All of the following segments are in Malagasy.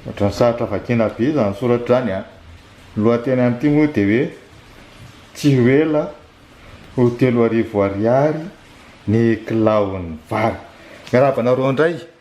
Ohatran'ny sarotra vakiana be izany soratra izany an! Ny lohateny amin'ity moa dia hoe tsy ho ela ho telo arivo ariary ny kilaon'ny vary. Miarahaba anareo indray.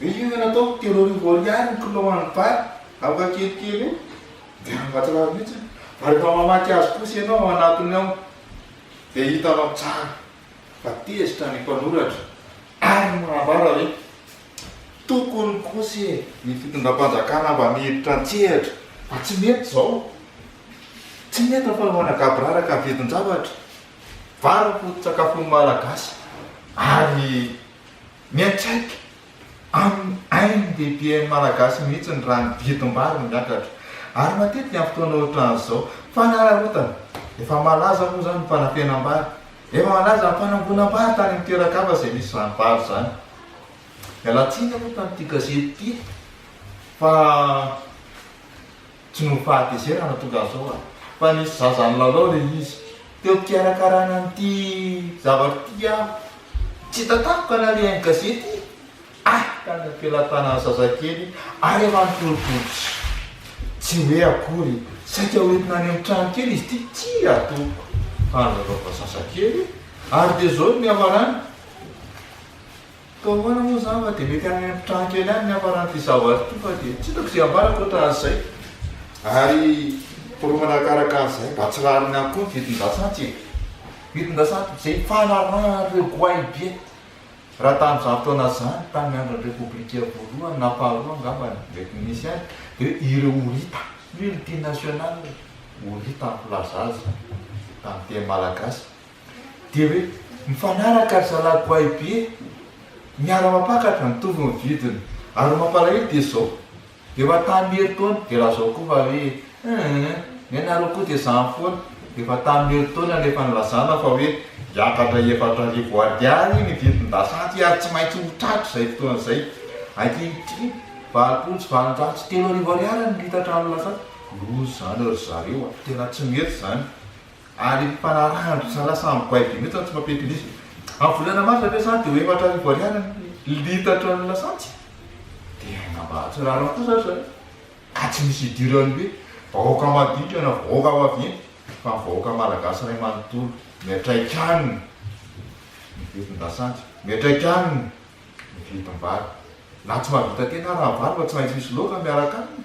Ve io ianao ataoko telo arivo ariary ny kilao any Bar aoka kelikely io dia mahatsiravy mihitsy fa rehefa mamaky azy kosa ianao ao anatiny ao dia hitanao tsara fa tezitra ny mpanoratra ary manambara hoe tokony kosa e ny fitondram-panjakana mba mihevitra an-tsehatra fa tsy mety izao tsy mety ny fanaovana gaboraraka ny vidin-javatra vary ny foto-tsakafon'ny malagasy ary Miantraika amin'ny ain'ny lehiben'ny Malagasy mihitsy ny raha ny vidim-bary no miakatra. Ary matetika amin'ny fotoana ohatran'izao, fanararaotana. Efa malaza moa izany ny fanafenam-bary. Efa malaza ny fanangonam-bary tany amin'ny toeran-kafa izay misy izany vary izany. Miala tsiny aloha tamin'ity gazety ity fa. Tsy noho fahatezerana no tonga azy ao an! Fa nisy zaza nilalao re izy. Teo am-pikarakarana an'ity zavatra ity aho. Tsy tatako ka narihan'ny gazety i! Hay tany am-pelatanan'ny zazakely ary manontolo bodotra. Tsy hoe akory, saika ho entina any amin'ny trano kely izy ity, tsia tompoko! Fa nilalaovana zazakely ary dia izao ny nihavanana. Koa ahoana moa izany fa dia mety any amin'ny mpitranga kely any ny hafaran'ity savoir ity fa dia tsy hitako izay ambara ankoatra an'izay. Ary foronana arakaraka an'izay mba tsy rariny ihany koa ny vidin-dasantsy e! Vidin-dasantsy izay fanarahan'ireo goahibe raha tamin'izany fotoana izany, tamin'ny andron'ny Repoblika voalohany na faharoa angamba no mety nisy azy dia ireo horita, multinationales, horita ny mpilaza azy tamin'ny teny malagasy. Dia hoe mifanaraka ry zalahy goay be miara mampakatra mitovy ny vidiny ary ny mampalahelo dia zao dia efa tamin'ny herintaona dia lazao koa fa hoe hum ny anareo koa dia zany foana efa tamin'ny herintaona no efa nilazana fa hoe hiakatra efatra arivo ariary ny vidin-dasantsy ary tsy maintsy ho tratry izay fotoana izay ankehitriny valopolo sy valonjato sy telo arivo ariary ny litatra nilazana loza zany ry zareo a tena tsy mety zany Ary mpanaraha an-dRicha lasa amboay be mihitsy tsy mampiankin'izy. Amin'ny volana marsa ve sa dia ho efatra arivo ariary ny litatra ny lasantsy? Dia aina mba hahatsirariny kosa ry zareo. Ka tsy misy idiran'ny hoe vahoaka madinika na vahoaka vaventy fa ny vahoaka malagasy iray manontolo miatraika aminy ny vidin-dasantsy, miatraika aminy ny vidim-bary. Na tsy mahavita tena raha vary fa tsy maintsy misy loaka miaraka aminy.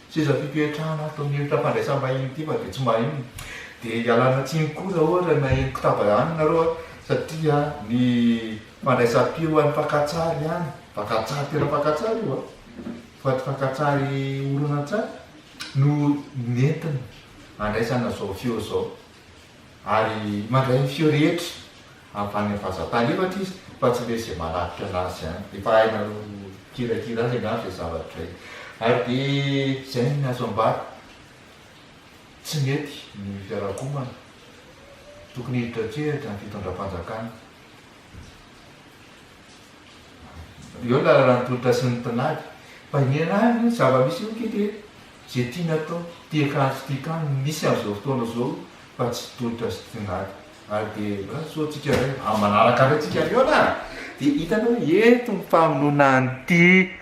Seza fipetrahana ato amin'io trafandraisam-bahiny ity fa dia tsy mba inona. Dia ialana tsiny koa raha ohatra na eny Kotaba any nareo an, satria ny fandraisam-peo any Fakantsary any, Fakantsary tena Fakantsary io an, fa tsy Fakantsary horonantsary, no nentina handraisana izao feo izao. Ary mandray ny feo rehetra. avy any Avazantany ohatra izy fa tsy le ze manafika anazy any, efa hainareo mikirakira any angamba zay zavatra zay, ary de zay ny azo ambara, tsy mety ny fiarakomana, tokony hiditra an-tsehatra ny fitondram-panjakana, eo ny lalana ny tolotra sy ny tinady, fa iniana any ny zava-misy eo ky de ze tiana atao, tia kanto tia kano no misy amzao fotoana zao fa tsy tolotra sy tinady. Ary dia mba soa antsika indray amin'ny manaraka indray tsika mihaona a! Dia hitanao hoe eto ny famonoana an'ity